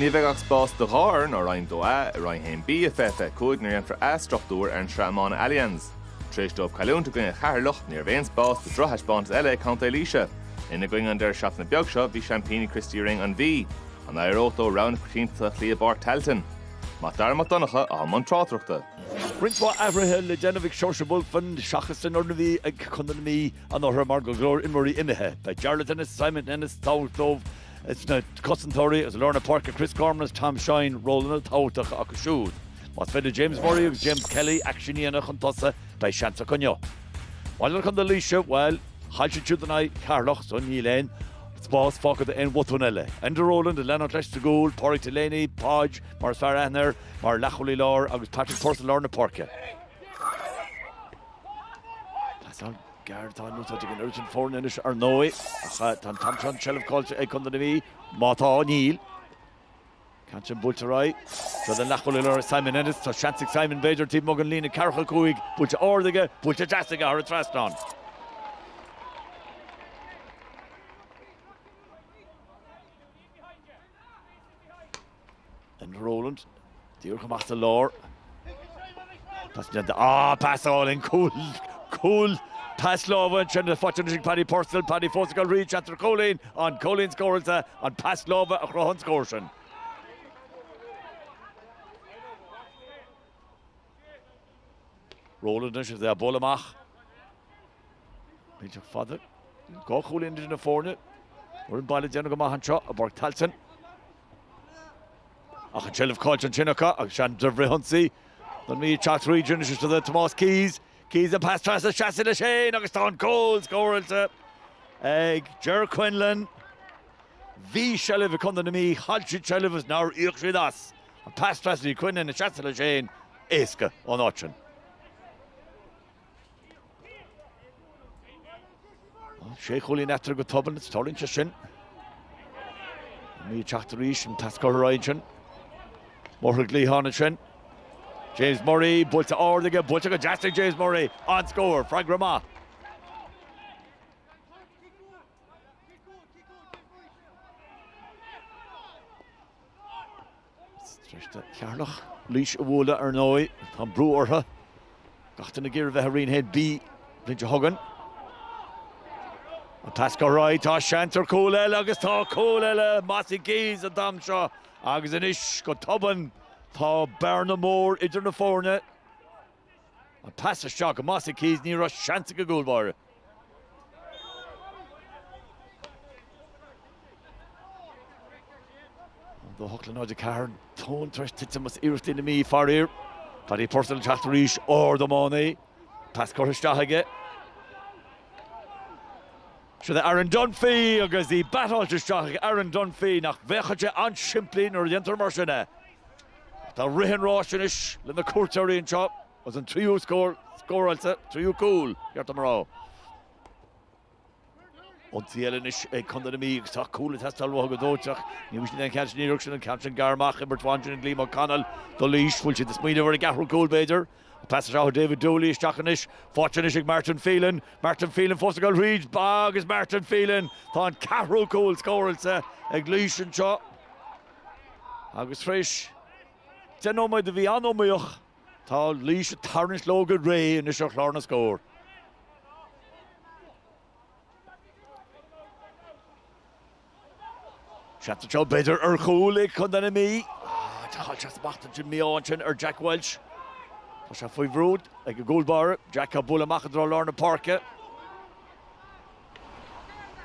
Ní bheidh ach spás do dhá fhoireann ó Roinn 2A i Roinn 1B i fiche fiche cúig nuair a dhéanfar athstruchtúr ar an tSraith Iomána Allianz. Tar éis dóibh cailliúint i gcoinne Cheatharlach, ní raibh aon spás do drochthaispeántas eile ag contae Laoise. Ina gcoinne an deireadh seachtaine beag seo bhí seaimpíní Christy Ring An Mhí. An éireodh leo rogha na coitiantachta a chloí i bPáirc Tailteann? Mac Dara Mac Donncha, atá i mbun tráchtaireachta. Roinnt mhaith athruithe le déanamh ag Seoirse Bulfin seachas an fhoireann a bhí ag contae na Mí. anuraidh mar go leor imreoirí imithe. Beidh Jarlath Ennis, Simon Ennis tábhacht dóibh sna cosantóirí agus lár na páirce Kris Gorman agus Tom Shine ról an-tábhachtach acu siúd. Más féidir le James Murray agus James Kelly aicsean a dhéanamh chun tosaigh, beidh seans acu inniu. Maidir le Contae Laoise, bhuel, chaill siad siúd in aghaidh Cheatharlach so níl aon spás fágtha do aon bhotún eile. Enda Rowland ag leanúint leis sa gcúl, Pádraig Delaney, Podge, mar is fearr aithne air, mar leathchúlaí láir agus Patrick Purcell lár na páirce. Tá gearradh tanaí á úsáid ag an dá fhoireann anois ar ndóigh ach tá an t-am seo an tseilbh caillte ag Contae na Mí, má tá, níl. Cic saor buailte ar aghaidh. Tá an leathchúlaí láir Simon Ennis, tá seans ag Simon b'fhéidir taobh amuigh den líne ceathracha cúig. Buailte ard aige, buailte deas aige thar an trasnán. Enda Rowland, díreach amach sa lár. Pas le de, ah, pas álainn an cúl, cúl, pas láimhe sin le fáilte anois ag Paddy Purcell, Paddy fós ag dul arís seans ar cúilín, an cúilín scóráilte, an pas láimhe a chruthaigh an scór sin. Rowland anois is é ag bualadh amach. Bíteach fada dhá chúilín idir na foirne, foireann an bhaile ag déanamh go maith anseo i bPáirc Tailteann. Ach an tseilbh caillte ansin acu agus seans de fhrithionsaí, an Mhí ag teacht tríd isteach do Tomás Keyes. Keyes an pas trasna seasta leis féin agus tá an cúl scóráilte ag Jer Quinlan. Bhí seilbh ag contae na Mí, chaill siad seilbh agus nár íoc siad as. An pas trasna ag Quinlan seasta leis féin éasca ón áit sin. Sé chúilín eatarthu go tobann, is tarlaíonn sé sin. An Mhí ag teacht arís, an tasc curtha ar aghaidh ansin. Mór-ghá le cúilín ansin. James Murray, buailte ard aige, buailte go deas ag James Murray. An-scór, freagra maith. Sroichtear Ceatharlach. Laois a bhualadh, ar ndóigh. Tá an brú orthu, gach duine ag iarraidh a bheith i Roinn a hAon B. Laois a thugann an pas ar aghaidh, tá seans ar chúl eile agus tá cúl eile! Mossy Keyes an t-am seo agus anois, go tobann, tá bearna mhór idir na foirne. An pas isteach go Mossy Keyes, ní raibh seans ag an gcúlbháire. 2, 8 le 0, 4, tóin tar eis titim as iarrachtaí na Mí, faraor. Paddy Purcell ag teacht arís, ard ó Maughoney. Pas curtha isteach aige. Siúd é Aaron Dunphy agus í beatáilte isteach ag Aaron Dunphy, nach bhféachann sé an-simplí nuair a dhéantar mar sin é. Tá rith an ráis anois le na cuairteoirí anseo agus an tríú scór scóráilte, tríú cúl, ba cheart dom a rá, an tseilbh anois ag Contae na Mí agus tá cúl ag teastáil uathu go dóiteach. Ní bhfaighidh siad an ceann sin iarracht sin an ceann sin gearr amach imeartha ansin ag Liam Ó Conaill do Laois. Bhfuil siad ag smaoineamh ar a gceathrú cúl b'fhéidir? An pas deas ó David Dooley isteach anois, faighte anois ag Martin Phelan, Martin Phelan fós ag dul thríd agus Martin Phelan, tá an ceathrú cúl scóráilte ag Laois anseo. Agus tar éis deich nóiméad a bhí an-iomaíoch, tá Laois ag tarraingt leo go réidh anois ar chlár na scór. Seans anseo b'fhéidir ar chúl ag Co. na Mí. Ach an smacht a d'imigh ansin ar Jack Walsh. Tá sé faoi bhrú ag an gcúl báire. Deacair bualadh amach i dtreo lár na páirce.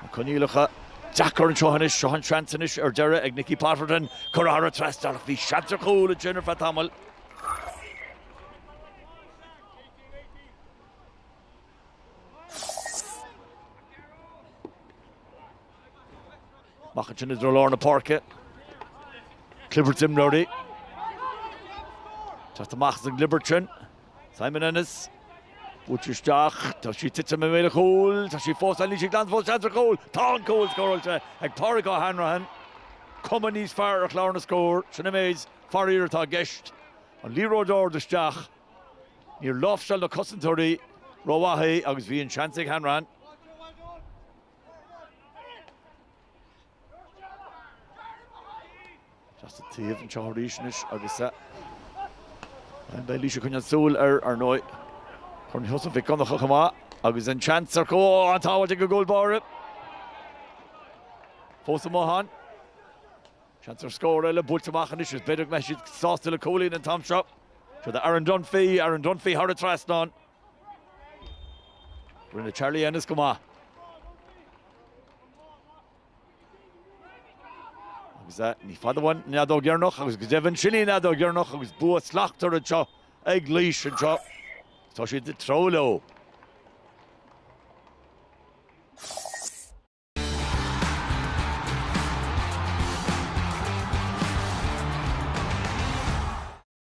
Na coinníollacha deacair anseo anois. Seo an seans anois ar deireadh ag Nicky Potterton curtha thar an trasnán ach bhí seans ar chúl ansin ar feadh tamaill. Amach ansin i dtreo lár na páirce. Clibirt imreoirí. Teacht amach as an gclibirt sin. Simon Ennis. Buailte isteach. Tá sí tite i mbéal an chúil. Tá sí fós ann. Níl sí glanta fós seans ar chúl. Tá an cúl scóráilte ag Pádraig O'Hanrahan. Cuma níos fearr ar chlár na scór. Sin an méid. Faraor atá i gceist. An liathróid ard isteach. Níor láimhseáil na cosantóirí rómhaith é agus bhí an seans ag Hanrahan. Síos an taobh seo arís anois agus beidh Laois ag coinneáil súil air, ar ndóigh. Corn Sheosaimh Mhic Dhonncha chomh maith agus an seans ar chúl, an tsábháil ag an gcúl báire. Fós i mbothán. Seans ar scór eile buailte amach anois agus b'fhéidir go mbeidh siad sásta le cúilín an t-am seo. Siúd é Aaron Dunphy, Aaron Dunphy thar an trasnán. Rinne Charlie Ennis go maith. Agus é ní fada uainn an fheadóg dheireanach agus go deimhin sin í an fheadóg dheireanach agus bua slachtmhar anseo ag Laois anseo. Tá siad ag treabhadh leo.